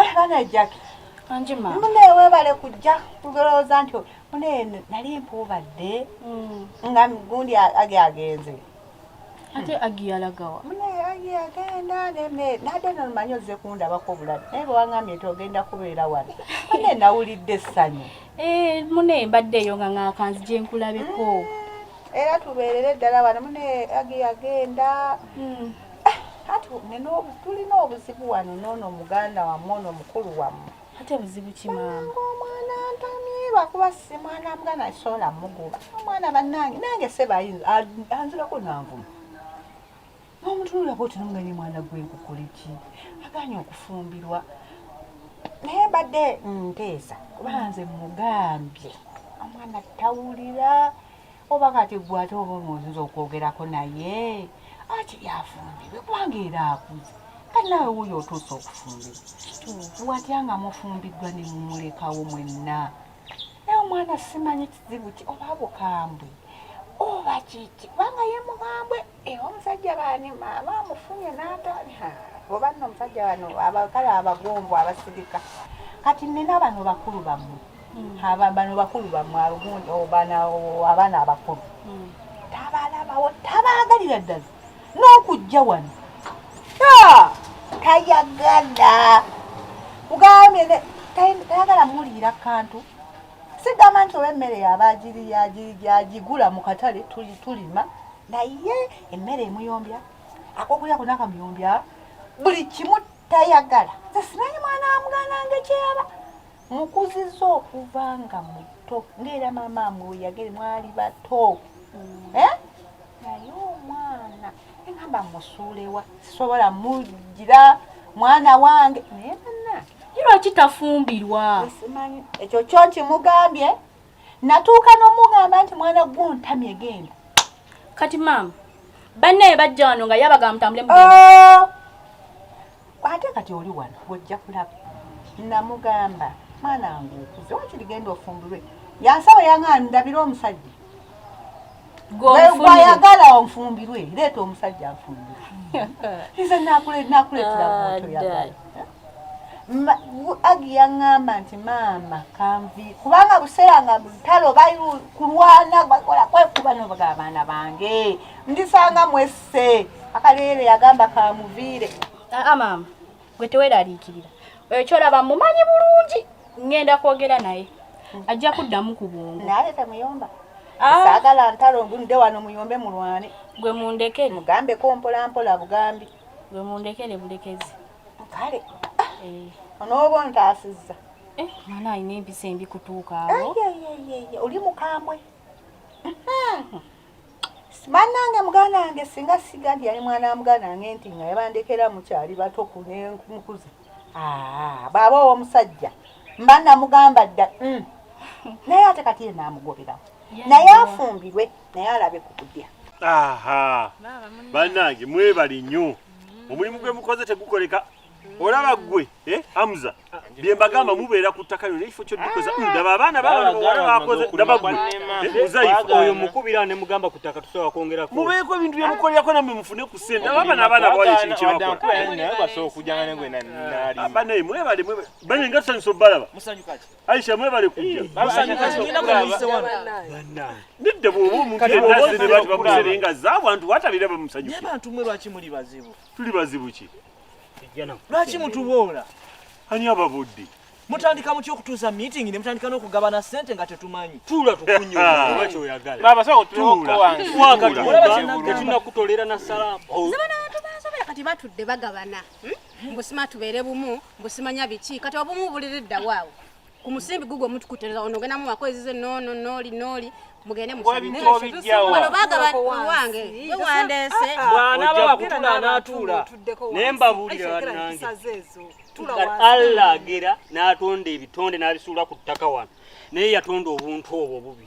Eh, bana Jackie. Anji ma. Mune webale kujja kugerooza nti mune nali mpuubadde mm. nga gundi age agenze. Ate agi yalagawa. Mune agi agenda neme nade nomanyi ozze kundabako obuladi naye bwe wangambye nti ogenda kubeera wano mune nawulidde essanyu. Eh, mune mbadde eyo nga ng'akanzi gye nkulabeko. Mm. Era tubeerere ddala wano mune agi agenda. Mm. tulina obuzibu wano noono muganda wamwe ono mukulu wamwe ate buzibu kimaama omwana ntamye lwakuba si mwana muganda kisobola muguba omwana banange nange sebayinza anzirako nanvuma nomutunulako oti nomuganye mwana gwenkukuliki aganye okufumbirwa naye mbadde nteesa kuba nze mugambye omwana tawulira oba kati gwe ate oba omuwuzinza okwogerako naye akiri afumbirwe kubanga era akuze kati nawe wuyo otuuse okufumbirwa watya nga mufumbiddwa ne mumulekawo mwenna naye omwana simanyi kizibu ki oba bukambwe oba kiki kubanga ye mukambwe Eh, omusajja bani maama amufunye n'atani oba nno omusajja bano abakale abagombo abasirika kati nina bano bakulu bammwe hmm. bano bakulu bammwe alugundi abaana abakulu hmm. tabalabawo tabaagalira ddala n'okujja wano tayagala ugambye tayagala muliira kantu sigamba nti oba emmere yaba agigula mu katale tulima naye emmere emuyombya akokulya kuna kamuyombya buli kimu tayagala nze simanyi mwana amugananga ekyeyaba mukuziza okuva nga muto ngaera maama mwe weyagere mwali bato mm. eh? naye omwana engamba musuulewa sisobola mugira mwana wange naye banange lwaki tafumbirwa ekyo kyo nkimugambye natuuka n'omugamba nti mwana gwontamye egenda kati maama banne bajja wano nga yabaga mutambule oh! Ate kati oli wano ojja kulaba. Namugamba mwana wange okuze wakiri genda ofumbirwe yansaba yanga ndabire omusajja gwayagala onfumbirwe leeta omusajja nfumbirwe nze nakuleetera gwotoyagala agi yaŋŋamba nti maama kanvi kubanga buseera nga lutalo bali kulwana bakola kwekuba nobaga abaana bange ndisanga mwesi se akaleere yagamba kamuviire aa ah, maama gwe teweraliikirira oyo kyolaba mumanyi bulungi ngenda kwogera naye ajja kuddamu ku bwongo naye temuyomba ah. saagala ntalo ngunde wano muyombe mulwane gwe mundekere mugambeko mpolampola bugambi gwe mundekere bulekezi kale eh. onooba ontaasizza eh, mwana alina empisa embi kutuuka awo oli mukambwe bannange muganda wange singa sigandi yali mwana wa muganda wange nti nga yabandekera mukyali bato kunemukuza ah, baaba owomusajja mba namugamba dda mm. naye ate kati ye namugoberawo naye afumbirwe naye alabe ku kudya bannange mwebali nnyo omulimu gwe mukoze tegukoleka olaba gwe eh, amuza byembagamba mubeera ku ttaka lyo nekifo kyoddikoza ah. ndaba abaana babaoyo eh, mukubira nemugamba ku ttaka tusobola kwongerako mubeeko ebintu byemukolerako namwe mufune ku sente ababa nabaana bawala ekintu kyebakolabanaye mwebale bane nga tusanyusa obalaba aisha mwebale kujjanidde bwoba omuntuenazinebakubakuserenga zabantu watabire bamusanyuke tuli bazibu ki lwaki mutuboola ani ababudde mutandika mutya okutuuza meeting ne mutandika n'okugabana sente nga tetumanyi tuula tukunyuoba kyoyagalatetunakutolera na salaamu oh. kati batudde bagabana hmm? mbusima tubeere bumu mbusimanya biki kati obumu buliri ddawo awo ku musimbi gugwo mutukutereza ono ogenda mu makwezi ze nono noli noli mugende muwano bagaba wange we wandese ah, ah, bwana baba kutula anatuula naye mbabuulira bannange allah agera n'atonda ebitonde n'abisuula ku ttaka wano naye yatonda obuntu obwo obubi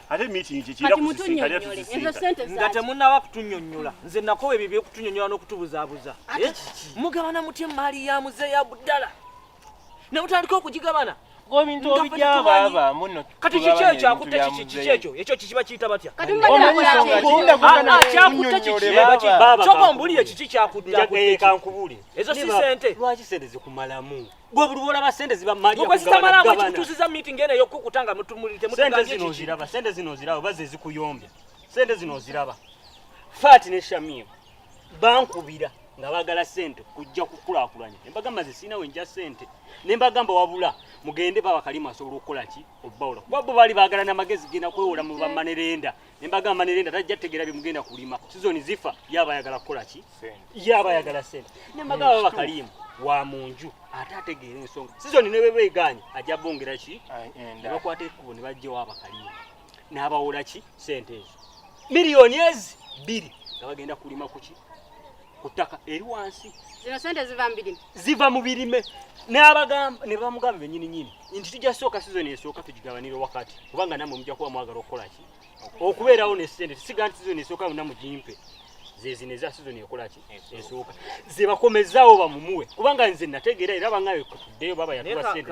ate meeting kye kira kusisinkana tusisinka nga temunnaba kutunyonnyola nze nakowa ebyo byekutunyonnyola n'okutubuzaabuza eh? mugabana mutya emmaali ya muze ya budala ne mutandika okugigabana kati kiki ekyo akutte kiki kiki ekyo ekyo kikiba kiyita batya kyakutte kikikyoka ombuulire kiki kyakutte ezo si sente lwaki sente zikumalamu gwe buli lwolaba sente ziba mali ya kugabana gabana kitusiza meeting ene yo kukutanga mtu muli te mtu sente zino ziraba sente zino ziraba baze zikuyombya sente zino ziraba fati ne shamim bankubira nga bagala sente kujja kukulakulanya embaga maze sina wenja sente ne mbaga mba wabula mugende baba kalimu asobola okukola ki obbawula kuba bo bali bagala na magezi gina kwewola mu bamanerenda ne mbagamba ne lenda tajja tegera bye mugenda kulima sizoni zifa yaba yagala kukola ki yaba yagala sente ne mbagamba baba kalimu wa munju ate ategeera ensonga sizoni ne bebe eganye ajja bongera ki ne bakwata ekkubo ne bajja waba kalimu n'abawola ki sente ezo miliyoni ezi bbiri nga bagenda kulima kuki ku ttaka eri wansi zino sente ziva mu birime ziva mu birime n'abagamba ne bamugamba bennyini nyini nti tujja sooka sizoni esooka tugigabanire wakati kubanga namwe mujja kuba mwagala okukola ki okubeerawo ne ssente tisiga nti sizoni esooka yonna mugimpe zezino eza sizoni ekolaki esooka zebakomezaawo bamumuwe kubanga nze nategeera era bangayo tuddeyo baba yatuwa sente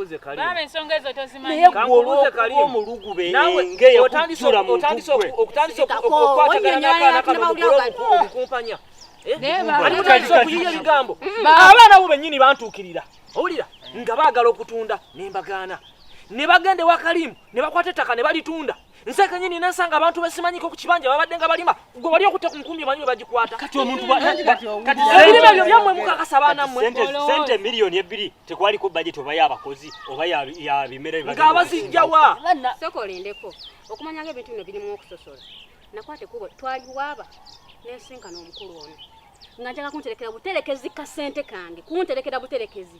zesajjaomulugube engeye kujjula mutuokukwataganaakaanakamukula abaana bo bennyini bantuukirira owulira nga baagala okutunda nembagaana ne bagenda ewakalimu ne bakwata ettaka ne balitunda nseke nyini nensanga abantu besimanyiko ku kibanja babadde nga balima gwe wali okutta ku nkumbi omanyi webagikwata kati omuntu ebirime ebyo byammwe mukakasa baana mmwe sente miliyoni ebbiri tekwaliko bajeti oba yabakozi oba ya bimera nga bazijjawa soko olindeko okumanya nga ebintu bino birimu okusosola nakwata ekubo twaliwaaba nensinkana omukulu ono nga njaga kunterekera buterekezi kasente kange kunterekera buterekezi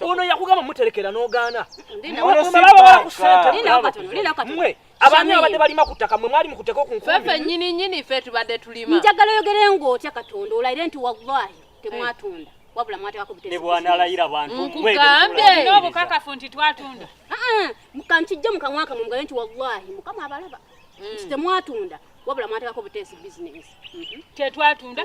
ono yakugamba muterekera n'ogaana mwe abaami abadde balima ku ttaka mwe mwali mukuteka okunfefe nyini nyini fe tubadde tulima njagala oyogere ng'otya katonda olayire nti wallahi temwatunda wabula mwatekako butebwanalayira bantumukugambye n'obukakafu nti twatunda kankijje mu kamwa kamwe mugabe nti wallahi mukama abalaba mm. nti temwatunda wabula mwatekako buteesi bizinesi mm-hmm. tetwatunda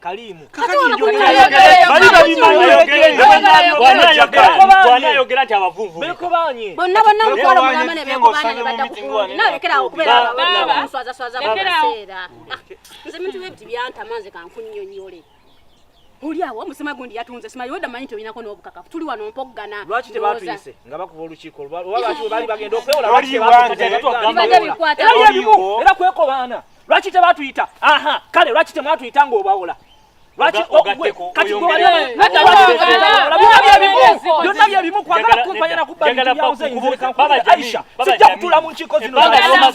Kalimu. Uliawo musema gundi yatunze sima yoda manyi to inako nobukaka tuli wano mpoggana lwaki tebatuyise nga bakuba olukiiko lwaki bali bagenda okwewola lwaki tebatuyise era kwekobaana lwaki tebatuyita aha kale lwaki temwatuyita ng'obawola lwaki kati byonna byebimu kwagala kumpanya nakubbaaisha sijja kutula mu nkiiko zinoaisha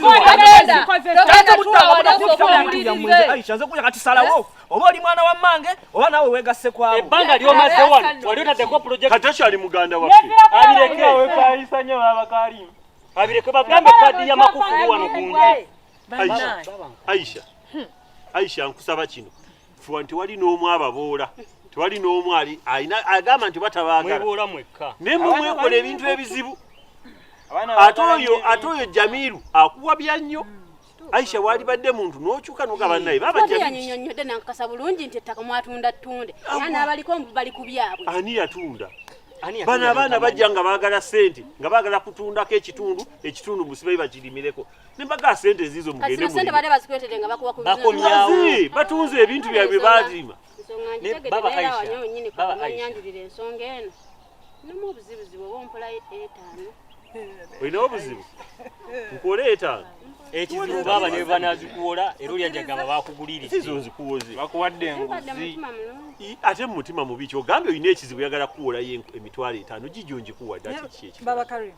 nze kuja katisalawo oba oli mwana wa mmange oba nawe wegasse kwabo ebbanga lyomaze wano wali otadeko projekt kati okyali muganda waffe abireke abireke bagambe kadi ya makufulu wano kungi Aisha, Aisha, hmm. Aisha nkusaba kino fuwa nti wali n'omu ababoola tewali n'omu ali alina agamba nti batabaagala naye mwe mwekola ebintu ebizibu ate oyo ate oyo jamiru akuwabya nnyo hmm, aisha walibadde muntu nokyuka nogaba hmm. naye babanyonyonyode nankasa bulungi nti ettaka mwatunda ttunde era n'abaliko mbu bali ku byabwe ani yatunda bano abaana bajja nga baagala sente nga baagala kutundako ekitundu ekitundu musibayi bakirimireko nembaga sente ezizo mugende mu sente bale bazikwetede nga bakuwa ku bakomyawo batunze ebintu byabwe balima ne baba Aisha baba Aisha nyanjulira ensonga eno nomu obuzibu zibu oba ompola etaano olina obuzibu nkuwola etaano ekizibu baba ne banazikuwola era olya njagamba bakuguliridde sizo nzikuwoze bakuwadde enguzi ate mu mutima mubi kyogambye olina ekizibu yagala kukuwolayo emitwalo etaano gigyo ngikuwa dda kiki ekibaba karimu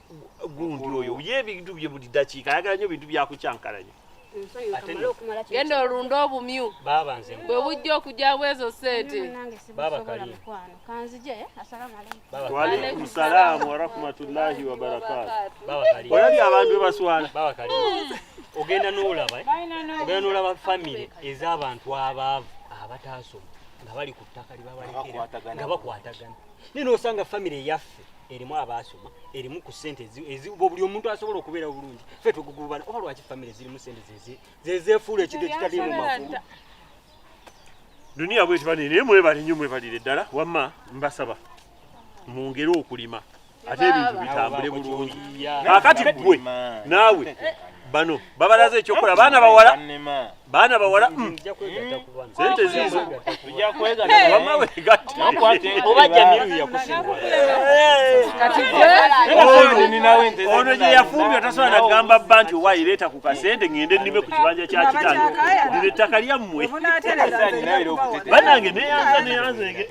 gundi oyo ye ebintu bye buli dakiika ayagala nyo bintu byakukyankalanya genda olunde obumyu bwe bujja okujja bwezo sente waalaikum salaamu warahmatullahi wabarakatu olabye abantu bebaswala ogenda nolaba eh? ogenda nolaba famire ez'abantu abaavu abataasoma nga bali ku ttaka libabalekera nga bakwatagana naye nosanga famire yaffe erimu abaasoma erimu ku sente eziba buli omuntu asobola okubeera obulungi fe tugugubana oba lwaki famire zirimu sente zezefuula ekintu ekitalimu makulu duniya bweti bane naye mwebale nyo mwebalire ddala wamma mbasaba mwongere okulima ate ebintu bitambule bulungi akati gwe naawe bano babalaze ekyokola baana bawala baana bawala mm. sente ziizo ono gye yafumbye otasobola nagamba bba nti owayi leeta ku kasente ngende nnime ku kibanja kya kitange lino ettaka lyammwe banange neyanza neyanzege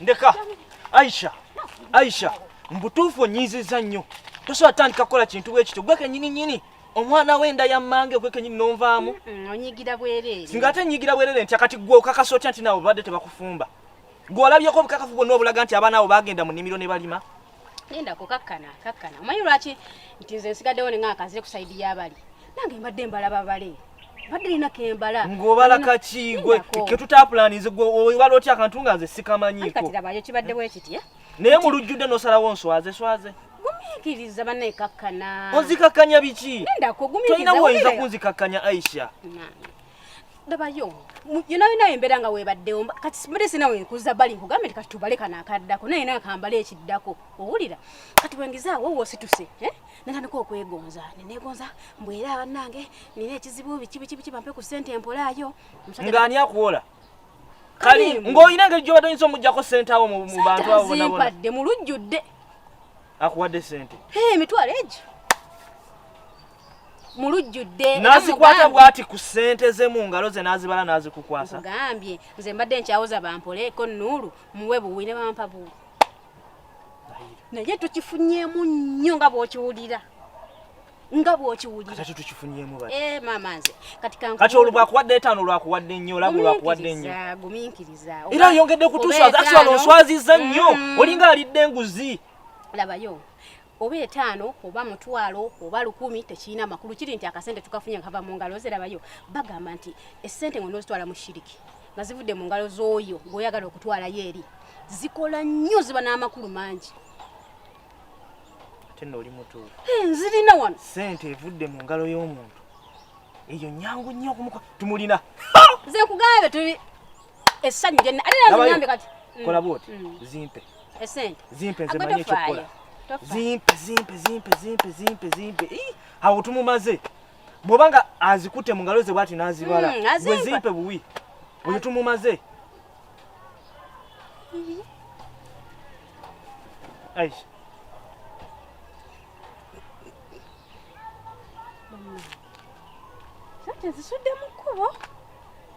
ndeka aisha aisha mbutuufu onyiiziza nnyo tosobola tandika kukola kintu bwe kityo gwe kenyini nyini omwana we nda yammange gwe kenyini nonvaamu onyigira bwerere singa ate nyigira bwerere ntya kati gwe okakasa otya nti nawe obadde tebakufumba gwe olabyeko obukakafu bwonna obulaga nti abaana abo bagenda mu nnimiro ne balima Nenda kukakkana kakkana. Omanyi lwaki nti nze nsigaddewo ne ng'aka nzire ku sayidi y'abali. Nange mbadde mbalaba bale. Mbadde nina kembala. Ng'obala kaki gwe ke tutaapulaninze gwe obala otya akantu nga nze sikamanyiiko. Kati labayo kibadde bwe kitye. Eh? Naye mu lujjudde n'osalawo nswaze swaze. Gumiikiriza banne kakkana. Onzikakkanya biki? Nenda kugumikiriza. Tolina woyinza kunzikakkanya Aisha. Nange. ndabayo yona yona embera nga webaddewo kati sibadde sina wenkuza bali nkugambe nti kati tubale kano akaddako naye nawe kambale ekiddako owulira kati wengizaawo wosituse eh? natandika okwegonza nenegonza mbwera abanange nina ekizibu biki biki biki bampe ku sente empolaayo nga ani akuwola kali ng'olina engeri gyobadde oyinza omuggyako sente awo mu bantu awo zimpadde mu lujjudde akuwadde sente emitwalo egyo mu lujjudde n'azikwata bw'ati ku ssente ze mu ngalo ze n'azibala n'azikukwasa gambye nze mbadde nkyawoza bampoleeko nuulu muwe buwi ne bampa buwi naye tukifunyeemu nnyo nga bw'okiwulira nga bw'okiwulira kati tukifunyeemu bati eh maama nze kati kanku kati olwakuwadde etaano olwakuwadde nnyo olabwe olwakuwadde nnyo gumiikiriza era yongedde kutuswaza actually onswazizza nnyo mm. olinga alidde enguzi labayo oba etaano oba mutwalo oba lukumi tekirina makulu kiri nti akasente tukafunye nga kava mu ngalo zirabayo bagamba nti esente nga onozitwala mu shiriki nga zivudde mu ngalo z'oyo gweoyagala okutwalayo eri zikola nnyo ziba n'amakulu mangi ate nooli mutuufu eh, nzirina wano sente evudde mu ngalo y'omuntu eyo nyangu nnyo okumuka tumulina nze nkugambe tuli Essanyu lye ate era nzinyambe kati. Mm. Kola bwoti mm. zimpe. Esente. Zimpe nze manyi ekyokukola. Zimpe zimpe zimpe zimpe zimpe zimpe. Ih, awo tumumaze. Bwoba nga azikute mu ngalo ze bwati n'azibala. Mm, Gwe zimpe buwi. Oyo tumumaze. Mm-hmm. Aisha. Sente zisudde mu kkubo.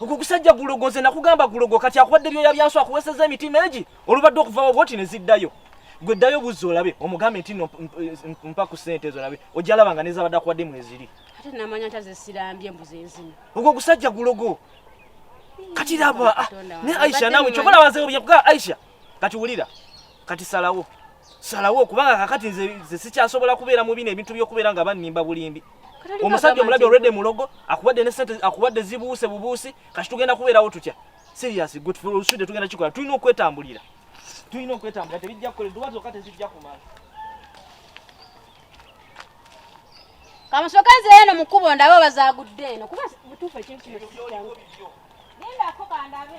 ogwo gusajja gulogo nze nakugamba gulogo kati akuwadde byoya byansi akuweseza emitima egi olubadde okuvawo bwoti ne ziddayo gwe ddayo buzza olabe omugambe nti no mpa ku ssente ezo olabe ojja laba nga nezabadde akuwadde mweziri ate namanya nti azesirambye mbuze enzina ogwo gusajja gulogo kati laba ah, ne aisha nawe kyobola wazeobya kugaa aisha kati wulira kati salawo salawo kubanga kakati nze nze sikyasobola kubeera mu bino ebintu by'okubeera nga bannimba bulimbi omusajja omulabi olwedde mulogo akuwadde ne sente akuwadde zibuuse bubuusi kati tugenda kubeerawo tutya serious gwe tusude tugenda kikola tulina okwetambulira tulina okwetambulira tebijja kukola edduwa zokka tezijja kumala kamusoka nze eno mukubo ndabe obazagudde eno kuba butuufu ekintu kino genda ako kandabe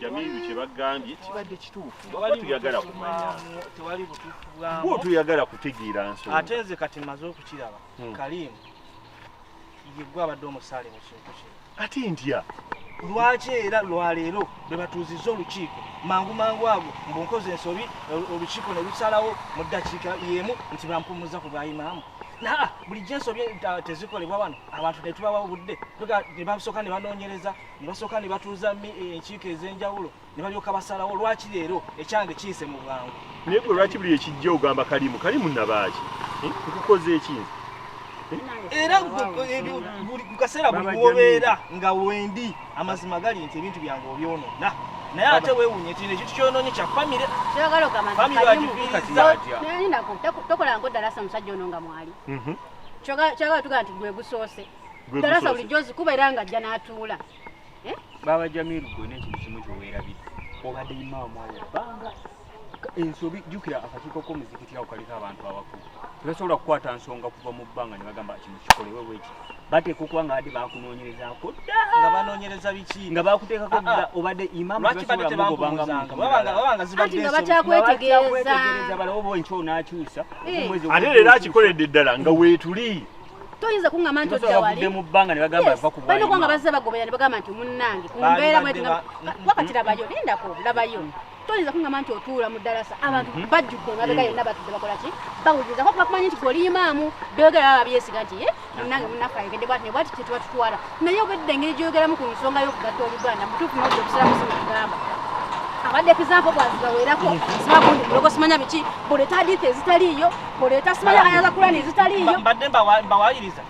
Jamilu kye bagambye kibadde kituufu oba tuyagala kumanya tewali butuufu bwamu bwo tuyagala kutegeera nsonga ate nze kati maze okukiraba hmm. kalimu yegwe abadde omusaale mu kintu kino ate ntya lwaki era lwaleero bwe batuuzizza olukiiko mangu mangu ago mbu nkoze ensobi olukiiko ne lusalawo mu ddakiika y'emu nti bampumuzza ku bwayimaamu naa bulijjo ensobi tezikolebwa wano abantu ne tubawa obudde ne basooka ne banoonyereza ne basooka ne batuuza eh, enkiiko ez'enjawulo ne balyoka basalawo lwaki leero ekyange kiyise mu bwangu naye gwe lwaki buli ekijja ogamba kalimu kalimu nabaaki eh, nkukoze ekinzi eh? era ku kaseera buli wobeera nga wendi amazima gali nti ebintu byange obyonona naye ate wewunye nti nekyo tukyononye kya famire famire agifiiriza tokola nkoddalasa omusajja ono nga mwali mhm. kyagala tugamba nti gwe gusoose talasa bulijjo zikuba era nga ajja n'atuula eh? baaba jamiru gwe nekintu kimu kyoweerabidde obadde imawa mwali banga ensobi jukira akakiiko k'omuzikiti awo kaliko abantu abakulu tebasobola kukwata nsonga kuva mu bbanga ne bagamba kino kikolewe bweki bateeka okuba nga badde bakunoonyerezaako nga banoonyereza biki nga bakuteekako dda ah, ah. obadde imaamubangabakyakwetgeeza balawo bwenkyo onaakyusa eh. ate leero akikoledde ddala nga weetuli toyinza kuŋŋamba nti odda wali mu bbanga ne bagamba ava ku bwalima balina bazze bagoberera ne bagamba nti munnange ku mbeera bweti wakati labayo lindako labayo toyinza kuŋŋamba nti otuula mu ddalasa abantu mhm. bajjudde emabega yonna batudde bakola ki bawuliriza kuba kumanyi nti gwe oli imaamu byogera baba byesiga nti ye munnange munnaffe ayogedde bwati ne bwati kye tuba tutwala naye obedde engeri gyoyogeramu ku nsonga y'okugatta oluganda mutuufu nodda obusiramu si mukugamba abadde ekizaako bwazibaweerako sibagundi mulogo simanya biki buleeta hadithi ezitaliiyo buleeta simanya ayaza kulani ezitaliiyo mbadde mbawayiriza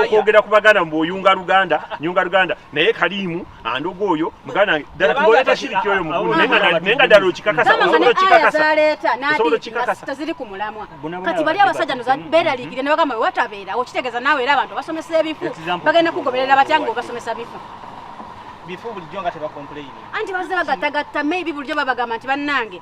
okwogera ku baganda mbu oyunga luganda nyunga luganda naye kaliimu andoga oyo muganda wange ddala tuboole tashiriki oyo mugulu naye nga ddala okikakasataziri ku mulamwa kati bali abasajja noza beeraliikire ne bagamba wewatabeerawo kitegeeza naawe era abantu abasomesa ebifu bagenda kugoberera batya nga obasomesa bifu bifu bulijjo nga tebakompuleyini anti bazze bagattagatta maybe bulijjo babagamba nti bannange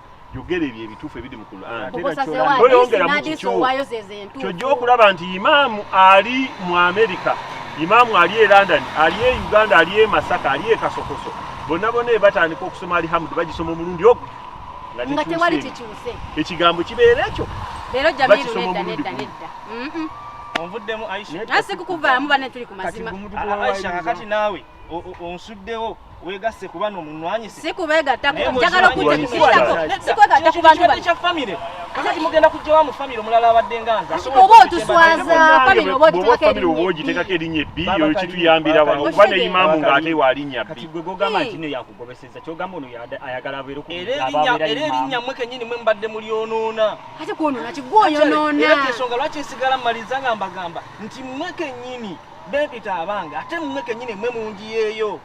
yogera ebyo ebituufu ebiri mu Qur'ankyojja okulaba nti imaamu ali mu amerika imaamu ali e london ali e uganda ali e masaka ali e kasokoso bonna bona ebatandika okusoma alihamudu bagisoma omulundi ogwo nga tewali kikyuse ekigambo kibeera ekyo leero jamiru nedda nedda nedda onvuddemu aisha naye sikukuvaamu banne tuli ku mazima aisha kakati naawe onsuddewo wegasse kuba no munwanyise si kubegatta njagala okujjakukirako si kwegatta ku bantu bano kya famire kakati mugenda kujja wa mu famire omulala abadde nga nze oba otuswaza famire oba ogitekako erinnya ebbi oyo kituyambira wano kuba ne imaamu ng'ate wa linnya bbi gwe gogamba nti no yakugobeseza kyogamba ono ayagala abeere ku era erinnya mwe kennyini mwe mbadde mulyonoona ate kwonoona kigwoyonoona era kyensonga lwaki nsigala mmaliza nga mbagamba nti mwe kennyini bempita abange ate mmwe kenyini mmwe munjiyeeyo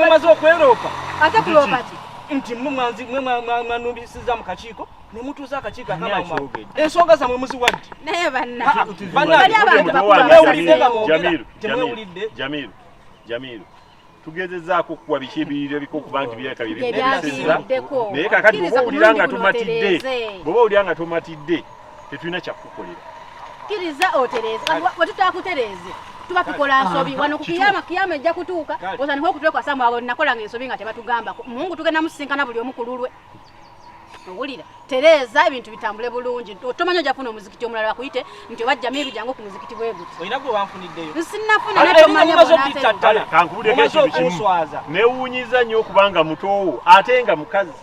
maze okweroopa ate kuloopa ki nti mmwe mwanzi mmwe mwanumbisiza mu kakiiko ne mutuuza akakiiko akamama ensonga zammwe muziwadde naye bannabannawulidde nga mwogera temwewulidde jamiru jamiru tugezezaako okukuwa biki ebiyiriro ebika okuba nti byata byebikuweseza naye kakati bwoba owulira nga tomatidde bwoba owulira nga tomatidde tetulina kyakukukolera kiriza otereeze wetutakutereeze tuba tukola nsobi ah, wano kukiyama kiyama ejja kutuuka otandika okutwekwasa mu abo nakolanga ensobi nga tebatugambako mungu tugenda musisinkana buli omu kululwe owulira tereeza ebintu bitambule bulungi otomanya ojja kufuna omuzikiti omulala bakuyite nti oba jamiru jangu ku muzikiti bwe guti olina gwe wanfuniddeyo nsinafuna netomanyaomazeokutatakankubudekekibikimuswaza newunyiza nnyo okubanga mutoowo ate nga mukazi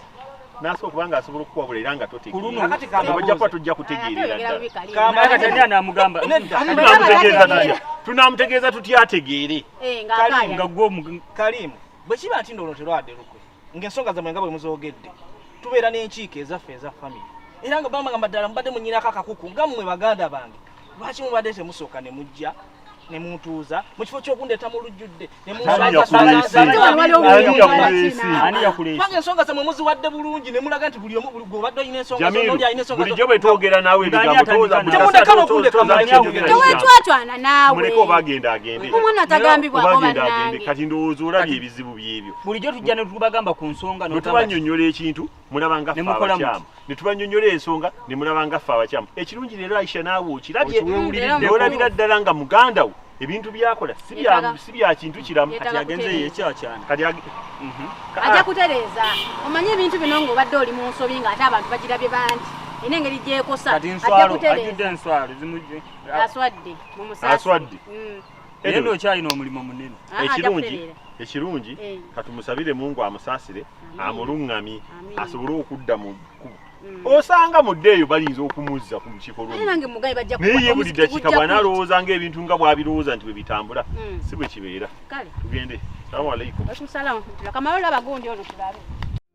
nasa okuba nga asobola okukuwabula era nga totegeerabajja kuba tujja kutegeereratunamutegeeza tunamutegeeza tutya ategeere eh, nga gwe kalimu bwe kiba nti ndoono terwade lukwe ng'ensonga zammwe nga bwe muzoogedde tubeera n'enkiiko ezaffe eza famire era nga bamba ngamba ddala mubadde munyinako akakuku nga mmwe baganda bange lwaki mubadde temusooka ne mujja ne muntuuza mu kifo ky'okundeeta mu lujjudde ne munsaani yakuleesibanga ensonga zammwe muziwadde bulungi ne mulaga nti buli omu gwobadde olina ensongaoli alina ensongabulijjo bwe twogera naawe ebigambotemundekana okundekatwatwana nawe omwana atagambibwako bannange kati ndowooza olabye ebizibu byebyo bulijjo tujja ne tubagamba ku nsonga no tubanyonyola ekintu mulaba nga fa abakyama ne tubanyonyola ensonga ne mulaba nga fa abakyama ekirungi leero Aisha naawe okirabye olabira ddala nga muganda wo ebintu byakola si bya si bya kintu kiramu kati agenze ye kya kyana kati ag mhm. aja kutereza omanye ebintu bino ngo badde oli mu nsobi nga ate abantu bagirabye bangi ene ngeri gyekosa aja kutereza ajudde enswalo zimujje aswadde mu musasi aswadde mm. naye nno okyalina omulimo munene ekirungi ekirungi eh. katumusabire mungu amusaasire amuluŋŋamye asobole okudda mu kkubo mm. osanga mudde eyo bayinza okumuzza ku lukiikonayeye buli dakika bwanalowooza nga ebintu nga bwabirowooza nti bwe bitambula mm. si bwe kibeera tugende salamu alaikum